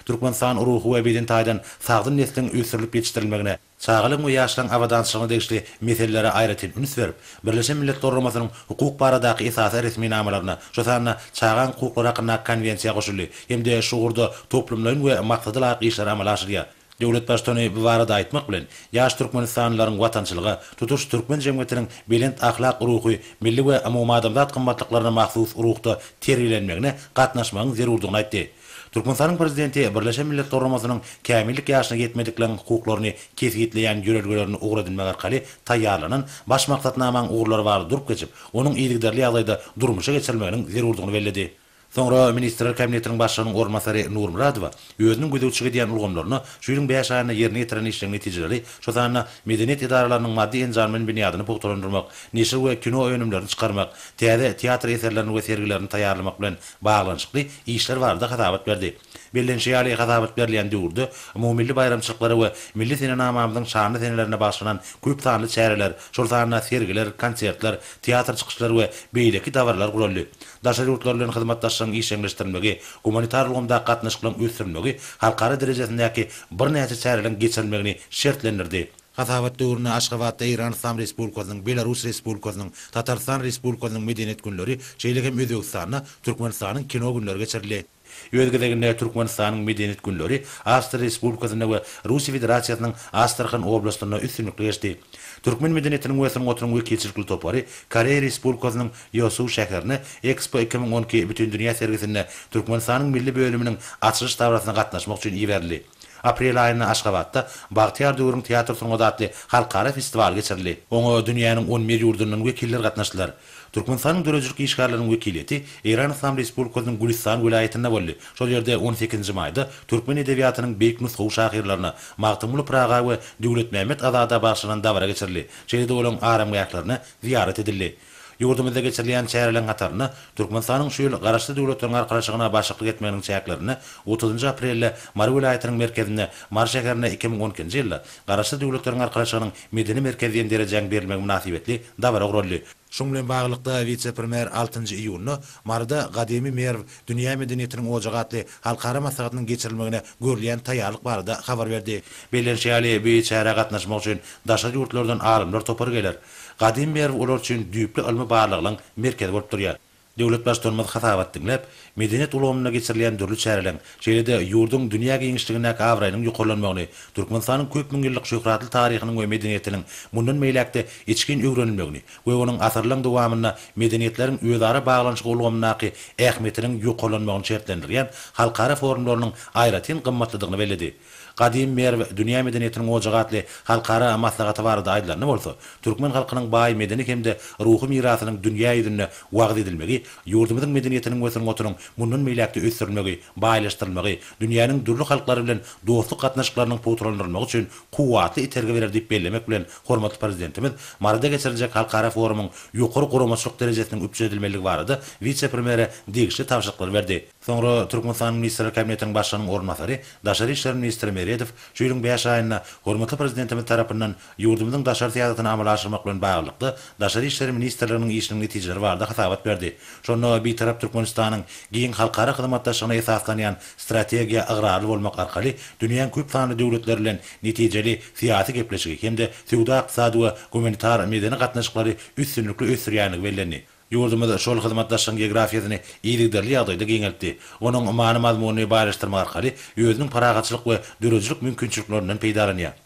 Türkmenistan ruhy we beden taýdan sagdyn nesliň ösdürilip ýetişdirilmegine, çagalygyň we ýaşlaryň abadançylygyna degişli meselelere aýratyn üns berip, Birleşen Milletler Guramasynyň hukuk baradaky esasy resminamalaryna, şu sanda Çagaň hukuklary hakyndaky Konwensiýa goşuldy hem-de şu ugurda toplumlaýyn we maksada laýyk işleri amala aşyrýar. Döwlet Baştutany bu barada aýtmak bilen, ýaş türkmenistanlylaryň watançylyga, tutuş türkmen jemgyýetiniň belent ahlak ruhy, milli we umumadamzat gymmatlyklaryna mahsus ruhda terbiýelenmegine gatnaşmagyň zerurdygyny aýtdy. Türkmenistanyň Prezidenti Birleşen Millet Guramasynyň Kämillik ýaşyna ýetmedikleriň hukuklaryny kesgitleýän ýörelgelerini ugur edinmek arkaly taýýarlanan Baş maksatnamaň ugurlary barada durup geçip, onuň yzygiderli ýagdaýda durmuşa geçirilmeginiň zerurdygyny belledi. Soňra Ministrler Kabinetiniň Başlygynyň orunbasary Nurmyradowa özüniň gözegçilik edýän ulgamlaryna şu ýylyň bäş aýynda ýerine ýetiren işleriň netijeleri, şo sanda medeniýet edaralarynyň maddy-enjam bilen binýadyny pugtalandyrmak, neşir we kino önümlerini çykarmak, täze teatr eserlerini we sergilerini taýýarlamak bilen baglanyşykly işler barada hasabat berdi. Bellenişi ýaly, hasabat berilýän döwürde umumymilli baýramçylyklary we milli senenamamyzyň şanly senelerine bagyşlanan köp sanly çäreler, şol sanda sergiler, konsertler, teatr çykyşlary we beýleki dabaralar guraldy. Daşary ýurtlar bilen hyzmatdaşlygyň işjeňleşdirilmegi, gumanitar ulgamdaky gatnaşyklaryň ösdürilmegi halkara derejesindäki birnäçe çäreleriň geçirilmegini şertlendirdi. Hasabat döwründe Aşgabatda Eýran Yslam Respublikasynyň, Belarus Respublikasynyň, Tatarystan Respublikasynyň Medeniýet günleri, şeýle hem Özbegistanda Türkmenistanyň Kino günleri geçirildi. Öz gezeginde Türkmenistanyň Medeniýet günleri Awstriýa Respublikasynda we Russiýa Federasiýasynyň Astrahan oblastynda üstünlikli geçdi. Türkmen medeniýetiniň we sungatynyň wekilçilikli topary Koreýa Respublikasynyň Ýosu şäherine Expo iki müň on iki bütindünýä sergisinde Türkmenistanyň milli bölüminiň açylyş dabarasyna gatnaşmak üçin iberildi. Aprel aýynda Aşgabatda Bagtyýar döwrüň teatr sungaty atly halkara festiwaly geçirildi. Oňa dünýäniň on bir ýurdundan wekiller gatnaşdylar. Türkmenistanyň döredijilik işgärleriniň wekiliýeti Eýran Yslam Respublikasynyň Gülüstan welaýatynda boldy. Şol ýerde on sekizinji maýda türkmen edebiýatynyň beýik nusgawy şahyrlaryna Magtymguly Pyraga we Döwletmämmet Azada bagyşlanan dabara geçirildi, şeýle-de olaryň aramgählerine zyýarat edildi. Ýurdumyzda geçirilýän çäreleriň hatarynda Türkmenistanyň şu ýyl Garaşsyz Döwletleriň Arkalaşygyna başlyklyk etmeginiň çäklerinde otuzynjy aprelde Mary welaýatynyň merkezinde Mary şäherinde iki müň on ikinji ýylda Garaşsyz Döwletleriň Arkalaşygynyň medeni merkez diýen derejäň berilmegi mynasybetli dabara guraldy. Şunuň bilen baglylykda, wise-premýer altynjy iýunda Maryda Gadymy Merw, dünýä medeniýetiniň ojagy atly halkara maslahatynyň geçirilmegine görülýän taýýarlyk barada habar berdi. Bellenişi ýaly, bu çärä gatnaşmak üçin daşary ýurtlardan alymlar topary geler. Gadymy Merw olar üçin düýpli ylmy barlaglaryň merkezi bolup durýar. Döwlet Baştutanymyz hasabat diňläp, medeniýet ulgamynda geçirilýän dürli çäreleriň, şeýle-de ýurduň dünýä giňişligindäki abraýynyň ýokarlanmagyny, Türkmenistanyň köp müň ýyllyk şöhratly taryhynyň we medeniýetiniň mundan beýläk-de içgin öwrenilmegini we onuň asyrlaryň dowamynda medeniýetleriň özara baglanyşygy ulgamyndaky ähmiýetiniň ýokarlanmagyny şertlendirýän halkara forumlarynyň aýratyn gymmatlydygyny belledi. Gadym Merw dünýä medeniýetiniň ojagy atly halkara maslahaty barada aýdylanda bolsa, türkmen halkynyň baý medeni hem-de ruhy mirasynyň dünýä ýüzünde wagyz edilmegi, ýurdumyzyň medeniýetiniň we sungatynyň mundan beýläk-de ösdürilmegi, baýlaşdyrylmagy, dünýäniň dürli halklary bilen dostluk gatnaşyklarynyň pugtalandyrylmagy üçin kuwwatly itergi berer diýip bellemek bilen, hormatly Prezidentimiz Maryda geçiriljek halkara forumyň ýokary guramaçylyk derejesiniň üpjün edilmelidigi barada wise-premýere degişli tabşyryklary berdi. Soňra Türkmenistanyň Ministrler Kabinetiniň Başlygynyň orunbasary, daşary işler ministri Meredow şu ýylyň bäş aýynda hormatly Prezidentimiz tarapyndan ýurdumyzyň daşary syýasatyny amala aşyrmak bilen baglylykda Daşary işler ministrliginiň işiniň netijeleri barada hasabat berdi. Şonda Bitarap Türkmenistanyň giň halkara hyzmatdaşlygyna esaslanýan strategiýa ygrarly bolmak arkaly dünýäň köp sanly döwletleri bilen netijeli syýasy gepleşigi hem-de söwda-ykdysady we gumanitar-medeni gatnaşyklary üstünlikli ösdürýändigi bellendi. Ýurdumyz şol hyzmatdaşlygyň geografiýasyny yzygiderli ýagdaýda giňeltdi. Onuň many-mazmunyny baýlaşdyrmak arkaly özüniň parahatçylyk we döredijilik mümkinçiliklerinden peýdalanýar.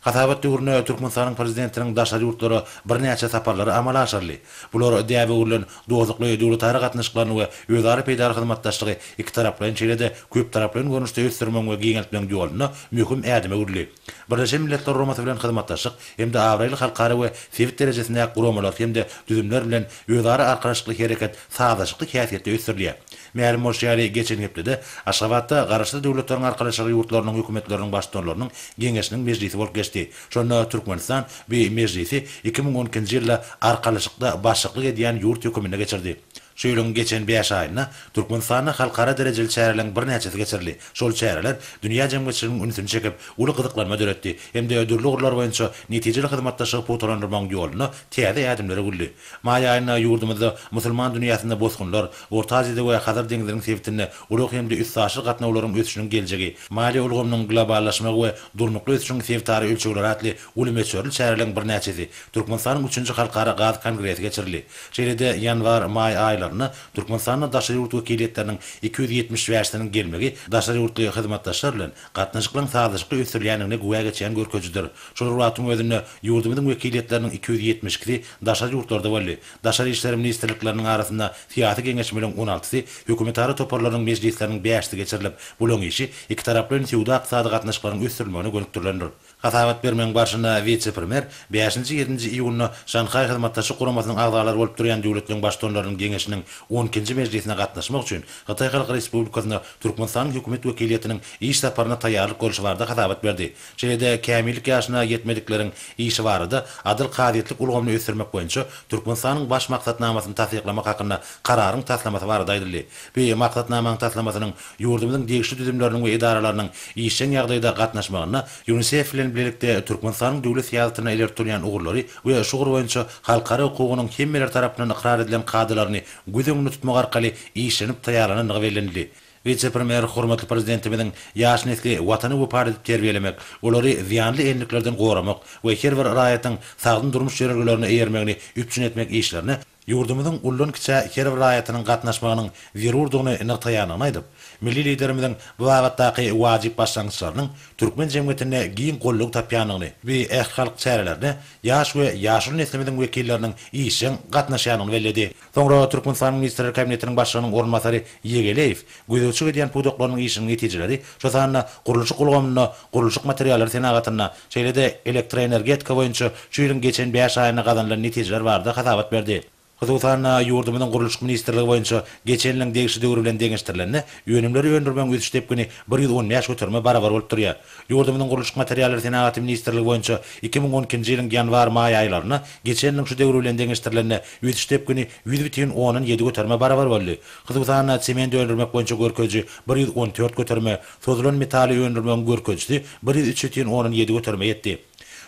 Hasabat döwründe Türkmenistanyň Prezidentiniň daşary ýurtlara birnäçe saparlary amala aşyryldy. Bular däbe öwrülen dostlukly döwletara gatnaşyklaryny we özara peýdaly hyzmatdaşlygy ikitaraplaýyn şeýle-de köptaraplaýyn görnüşde ösdürmegiň we giňeltmegiň ýolunda möhüm ädime öwrüldi. Birleşen Milletler Guramasy bilen hyzmatdaşlyk hem-de abraýly halkara we sebit derejesindäki guramalar hem-de düzümler bilen özara arkalaşykly hereket sazlaşykly häsiýetde ösdürilýär. Mälim bolşy ýaly, geçen hepdede Aşgabatda Garaşsyz Döwletleriň Arkalaşygy ýurtlarynyň hökümetleriniň baştutanlarynyň geňeşiniň mejlisi bolup geçdi. Şonda Türkmenistan bu mejlisi iki müň on ikinji ýylda Arkalaşykda başlyklyk edýän ýurt höküminde geçirdi. Şu ýylyň geçen bäş aýynda Türkmenistanda halkara derejeli çäreleriň birnäçesi geçirildi. Şol çäreler dünýä jemgyýetçiliginiň ünsüni çekip, uly gyzyklanma döretdi hem-de dürli ugurlar boýunça netijeli hyzmatdaşlygy pugtalandyrmagyň ýolunda täze ädimler öwüldi. Maý aýynda ýurdumyzda musulman dünýäsinde bosgunlar, Orta Aziýada we Hazar deňziniň sebitinde ulag hem-de üstaşyr gatnawlaryň ösüşiniň geljegi, maliýe ulgamynyň globallaşmagy we durnukly ösüşiň sebitara ölçegleri atly Uly möçberli çäreleriň birnäçesi Türkmenistanyň üçünji halkara gaz kongresi geçirildi. Şeýle-de ýanwar, maý aýlarynda Türkmenistana daşary ýurt wekiliýetleriniň iki ýüz ýetmiş bäşisiniň gelmegi daşary ýurtly hyzmatdaşlar bilen gatnaşyklaryň sazlaşykly ösdürilýändigine güwä geçýän görkezijidir. Şol bir wagtyň özünde ýurdumyzyň wekiliýetleriniň iki ýüz ýetmiş ikisi daşary ýurtlarda boldy. Daşary işler ministrlikleriniň arasynda syýasy geňeşmeliň on altysy, hökümetara toparlarynyň mejlisleriniň bäşisi geçirilip, bulaň işi ikitaraplaýyn söwda-ykdysady gatnaşyklaryň ösdürilmegine gönükdirilendir. Hasabat bermegiň barşynda wise-premýer bäşinji, ýedinji iýunda Şanhaý Hyzmatdaşlyk Guramasynyň agzalary bolup durýan döwletleriň Baştutanlarynyň geňeşiniň on ikinji mejlisine gatnaşmak üçin Hytaý Halk Respublikasyna Türkmenistanyň Hökümet wekiliýetiniň iş saparyna taýýarlyk görşi barada hasabat berdi. Şeýle-de kämillik ýaşyna ýetmedikleriň işi barada Adyl kazyýetlik ulgamyny ösdürmek boýunça Türkmenistanyň Baş maksatnamasyny tassyklamak hakynda Kararyň taslamasy barada aýdyldy. Bu maksatnamanyň taslamasynyň Ýurdumyzyň degişli düzümleriniň we edaralarynyň işjeň ýagdaýda gatnaşmagynda Ýunisef bilen bilelikde Türkmenistanyň döwlet syýasatynda ileri tutulýan ugurlary we şu ugur boýunça halkara hukugynyň hemmeler tarapyndan ykrar edilen kadalaryny göz öňünde tutmak arkaly işlenip taýýarlanandygy bellenildi. Wise-premýer hormatly Prezidentimiziň ýaş nesli Watana wepa edip terbiýelemek, olary zyýanly endiklerden goramak we her bir raýatyň sagdyn durmuş ýörelgelerine eýermegini üpjün etmek işlerine ýurdumyzyň ullan-kiçä her bir raýatynyň gatnaşmagynyň zerurdygyny nygtaýandygyny aýdyp, milli Liderimiziň bu babatdaky wajyp başlangyçlarynyň türkmen jemgyýetinde giň goldaw tapýandygyny we ählihalk çärelerine ýaş we ýaşuly neslimiziň wekilleriniň işjeň gatnaşýandygyny belledi. Soňra Türkmenistanyň Ministrler Kabinetiniň Başlygynyň orunbasary Ýegeleýew gözegçilik edýän pudaklarynyň işiniň netijeleri, şu sanda gurluşyk ulgamynda, gurluşyk materiallary senagatynda, şeýle-de elektroenergetika boýunça şu ýylyň geçen bäş aýynda gazanylan netijeler barada hasabat berdi. Hususan-da, ýurdumyzyň Gurluşyk ministrligi boýunça geçen ýylyň degişli döwri bilen deňeşdirilende, önümleri öndürmegiň ösüş depgini bir ýüz on bäş göterime barabar bolup durýar. Ýurdumyzyň Gurluşyk materiallary senagaty ministrligi boýunça iki müň on ikinji ýylyň ýanwar-maý aýlarynda geçen ýylyň şu döwri bilen deňeşdirilende ösüş depgini ýüz bütin ondan ýedi göterime barabar boldy. Hususan-da, sement öndürmek boýunça görkeziji bir ýüz on dört göterime, sozulan metaly öndürmegiň görkezijisi bir ýüz üç ýütün ondan ýedi göterime ýetdi.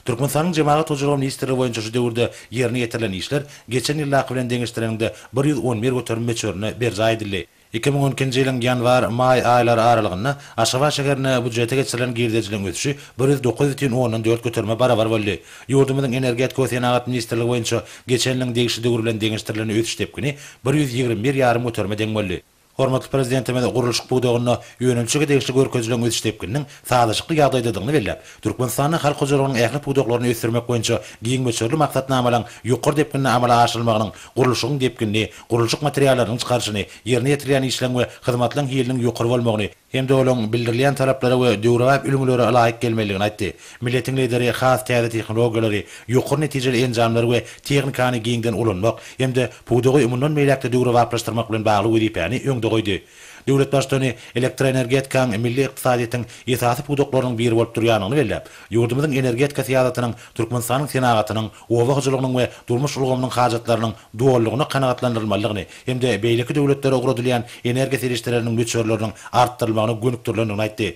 Türkmenistanyň Jemagat hojalygy ministrligi boýunça şu döwürde ýerine ýetirilen işler geçen ýyldaky bilen deňeşdireniňde bir ýüz on bir göterim möçberinde berjaý edildi. Iki müň on ikinji ýylyň ýanwar, maý aýlary aralygynda Aşgabat şäherine býujete geçirilen girdejiligiň ösüşi bir ýüz dokuz ýütün ondan dört göterime barabar boldy. Ýurdumyzyň Energetika we senagat ministrligi boýunça geçen ýylyň degişli döwür bilen deňeşdirilende ösüş depgini bir ýüz ýigrimi bir ýarym göterime deň boldy. Hormatly Prezidentimiz gurluşyk pudagynda önümçilige degişli görkezijileriň ösüş depgininiň sazlaşykly ýagdaýdadygyny belläp, Türkmenistanda halk hojalygynyň ähli pudaklaryny ösdürmek boýunça giň möçberli maksatnamalaryň ýokary depginde amala aşyrylmagynyň gurluşygyň depginini, gurluşyk materiallarynyň çykaryşyny, ýerine ýetirilýän işleň we hyzmatlaň hiliniň ýokary bolmagyny hem-de olaryň bildirilýän talaplara we döwrebap ülňülere laýyk gelmelidigini aýtdy. Milletiň Lideri has täze tehnologiýalary, ýokary netijeli enjamlary we tehnikany giňden ulanmak hem-de pudagy mundan beýläk-de döwrebaplaşdyrmak bilen bagly wezipäni öňde goýdy. Döwlet Baştutany elektroenergetikaň milli ykdysadyýetiň esasy pudaklarynyň biri bolup durýandygyny belläp, ýurdumyzyň energetika syýasatynyň Türkmenistanyň senagatynyň oba hojalygynyň we durmuş ulgamynyň hajatlarynyň dolulygyna kanagatlandyrylmalydygyny hem-de beýleki döwletlere ugradylýan energiýa serişdeleriniň möçberleriniň artdyrylmagyna gönükdirilendigini aýtdy.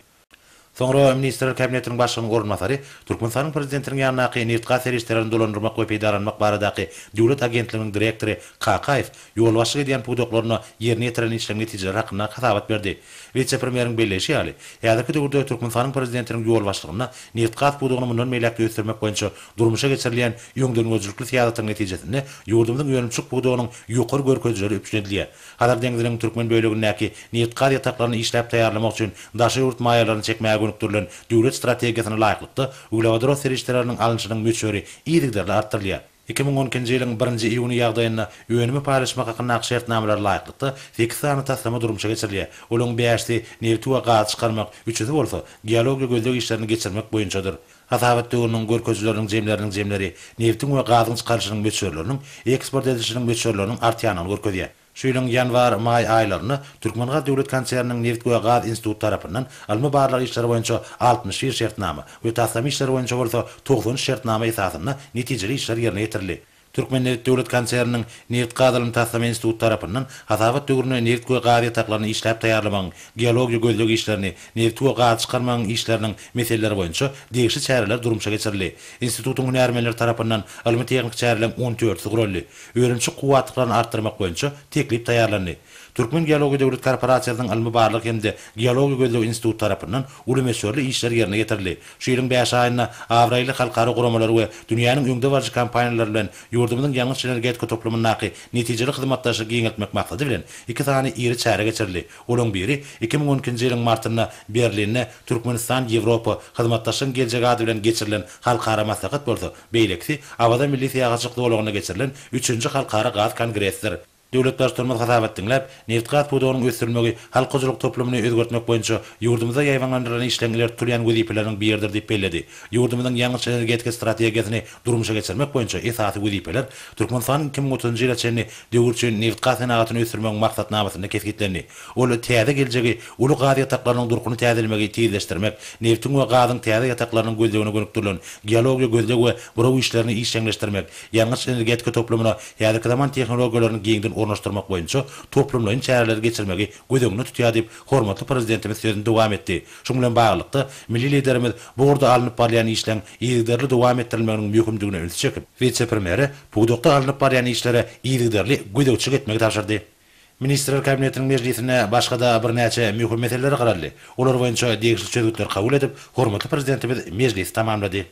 Soňra Ministrler Kabinetiniň Başlygynyň orunbasary Türkmenistanyň Prezidentiniň ýanyndaky Nebitgaz serişdelerini dolandyrmak we peýdalanmak baradaky döwlet agentliginiň direktory Kakaýew ýolbaşçylyk edýän pudaklarynda ýerine ýetiren işleň netijeleri hakynda hasabat berdi. Wise-premýeriň belleýşi ýaly, häzirki döwürde Türkmenistanyň Prezidentiniň ýolbaşçylygynda nebitgaz pudagyny mundan beýläk-de ösdürmek boýunça Durmuşa geçirilýän öňdengörüjilikli syýasatyň netijesinde ýurdumyzyň önümçilik pudagynyň ýokary görkezijileri üpjün edilýär. Hazar deňziniň türkmen bölegindäki nebit-gaz ýataklaryny işläp taýýarlamak üçin daşary ýurt maýalaryny çekmäge gönükdirilen döwlet strategiýasyna laýyklykda, uglewodorod serişdeleriniň alnyşynyň möçberi yzygiderli artdyrylýar. Iki müň on ikinji ýylyň birinji iýuny ýagdaýynda önümi paýlaşmak hakyndaky şertnamalara laýyklykda sekiz sany taslama durmuşa geçirilýär. Olaryň bäşisi nebiti we gazy çykarmak, üçüsi bolsa geologiýa gözleg işlerini geçirmek boýunçadyr. Hasabat döwrüniň görkezijileriniň jemleriniň jemleri nebtiň we gazyň çykarylyşynyň möçberleriniň eksport edilişiniň möçberleriniň artýandygyny görkezýär. Şu ýylyň ýanwar, maý aýlarynda Türkmengaz döwlet konserniniň Nebit we gaz instituty tarapyndan ylmy-barlag işleri boýunça altmyş bir şertnama we taslama işleri boýunça bolsa togsan üç şertnama esasynda netijeli işler ýerine ýetirildi. Türkmennebit döwlet konserniniň Nebit-gaz ylmy-taslama instituty tarapyndan hasabat döwründe nebit we gaz ýataklaryny işläp taýýarlamagyň geologiýa-gözleg işlerini, nebiti we gazy çykarmagyň işleriniň meseleleri boýunça degişli çäreler durmuşa geçirildi. Institutyň hünärmenleri tarapyndan ylmy-tehniki çäreleň on dördüsi guraldy. Önümçi kuwwatlyklaryny artdyrmak boýunça teklip taýýarlandy. Türkmen geologiýa döwlet korporasiýasynyň ylmy-barlag hem-de geologiýa-gözleg instituty tarapyndan uly möçberli işler ýerine ýetirildi. Şu ýylyň bäş aýynda abraýly halkara guramalar we dünýäniň öňdebaryjy kompaniýalary bilen ýurdumyzyň ýangyç-energetika toplumyndaky netijeli hyzmatdaşlygy giňeltmek maksady bilen iki sany iri çäre geçirildi. Olaryň biri iki müň on ikinji ýylyň martynda Berlinde Türkmenistan-Ýewropa hyzmatdaşlygyň geljegi ady bilen geçirilen halkara maslahat bolsa, beýlekisi Awaza milli syýahatçylyk zolagynda geçirilen üçünji halkara gaz kongressidir. Döwlet Baştutanymyz hasabat diňläp, nebitgaz pudagynyň ösdürilmegi halk hojalyk toplumyny özgertmek boýunça ýurdumyzda ýaýbaňlandyrylan işleriň ileri tutulýan wezipeleriniň biridir diýip belledi. Ýurdumyzyň ýangyç-energetika strategiýasyny durmuşa geçirmek boýunça esasy wezipeler Türkmenistanyň iki müň otuzynjy ýyla çenli döwür üçin nebitgaz senagatyny ösdürmegiň maksatnamasynda kesgitlendi. Ol täze geljegi uly gaz ýataklarynyň durkuny täzelemegi tizleşdirmek, nebtiň we gazyň täze ýataklarynyň gözlegine gönükdirilen geologiýa gözleg we buraw işlerini işjeňleşdirmek, ýangyç-energetika toplumyna häzirki zaman tehnologiýalaryny giňden ornaşdyrmak boýunça toplumlaýyn çäreleri geçirmegi göz öňünde tutýar diýip, hormatly Prezidentimiz sözüni dowam etdi. Şuň bilen baglylykda, milli Liderimiz bu ugurda alnyp barylýan işleň yzygiderli dowam etdirilmeginiň möhümdigine ünsi çekip, wise-premýere pudakda alnyp barylýan işlere yzygiderli gözegçilik etmegi tabşyrdy. Ministrler Kabinetiniň mejlisinde başga-da birnäçe möhüm meseleler garaldy. Olar boýunça degişli çözgütleri kabul edip, hormatly Prezidentimiz mejlisi tamamlady.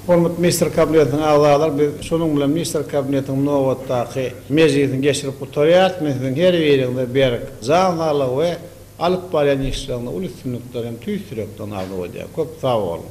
Hormatly Ministrler Kabinetiniň agzalary, biz şunuň bilen Ministrler Kabinetiniň nobatdaky mejlisini geçirip gutarýarys. Men siziň her biriňize berk jan saglygy we Alyp barýan işleriňde uly üstünlikler hem tüýs ýürekden arzuw edýän. Köp sag boluň.